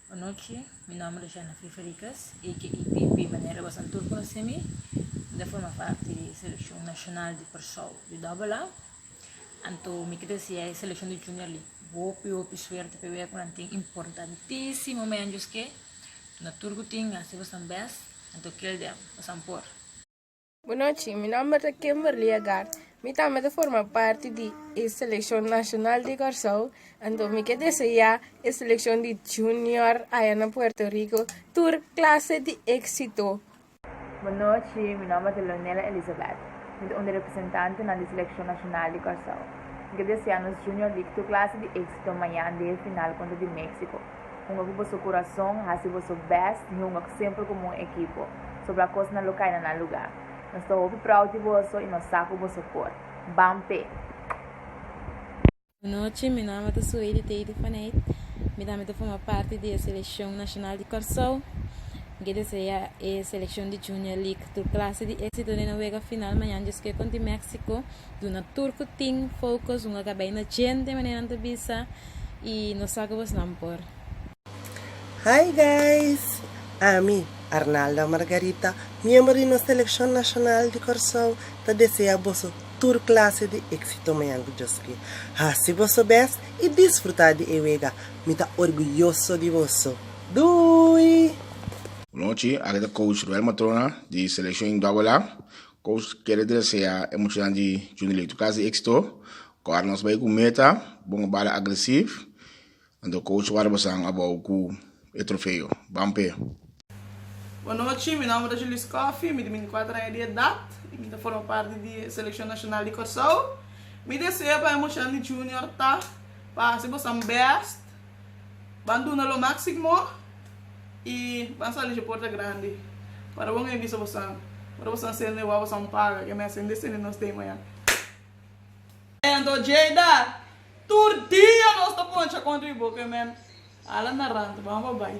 Bon nochi, mi nomber ta Genevieve Henriquez, aka Pipi, manera bosan tur conoce mi. Mi ta forma parti di seleccion nacional di Persou di Double A. Anto mi kier deseae seleccion di junior li hopi hopi suerte p'e wea cu nan tin importantisimo meanjo esque. Tuna tur cu tin hasi bosan best, anto kier den, bosan por. Bu nochi, mi nomber ta Kimberly Agard. Mi tambe ta forma parti di e seleccion nacional di Corsou, anto mi ke desea e seleccion di junior aya na Puerto Rico tur clase di exito. Bu nochi, mi nomber ta Leonela Elizabeth. Mi ta un di representantenan di seleccion nacional di Corsou. Mi ke desea nos junior di tur clase di exito mayan den e final contra di Mexico. Hunga ku boso kurason, hasi boso bèst i hunga semper komo un ekipo. Sobra kosnan lo kai na nan lugá. Nos ta hopi prou di boso i nos sa ku boso por. Ban p'e! Bon nochi, mi nama ta Sueidi Teiti van Eyck. Mi tambe ta forma parti di e selekshon nashonal di Kòrsou. Mi ke desea e selekshon di Junior League tur klase di éksito den e wega final mañan djosk'é konti Méksiko. Duna tur cu tin focus un a caba yendo djente manera nan ta bisa y nos sa cu bos nan por. Hi guys! Ami, Arnalda Margarita, miembro di nos Seleccion Nacional di Corsou, ta desea boso tur clase di exito mañana dioski. Haci boso bes y disfruta di e wega. Mi ta orguyoso di boso. Doei! Bunochi, aki ta coach Ruel Matrona di Seleccion Indwable. Koos kere deseá e muchanan di Junior Leito Casi éksito. Ku ara nos bai ku meta, bo no bala agresif. Anto coach wara bosan abou ku e trofeo. Ban p'e. Bo nochi, mi nomber ta Julius Coffy, mi di binti kuater aña di edat i mi ta forma parti di e selekshon nashonal di Kòrsou. Mi deseo pa e muchanan di Junior ta pa hasi bosan bèst. Ban duna lo máximo i ban sali dje porta grandi para bon e bisa bosan. Ora bosan sende wou bosan paga ke mester hende sende nos den maya. Anto Jada, Tur dia nos ta poncha kontra e boka e mèn. Hala narante, bamba bai.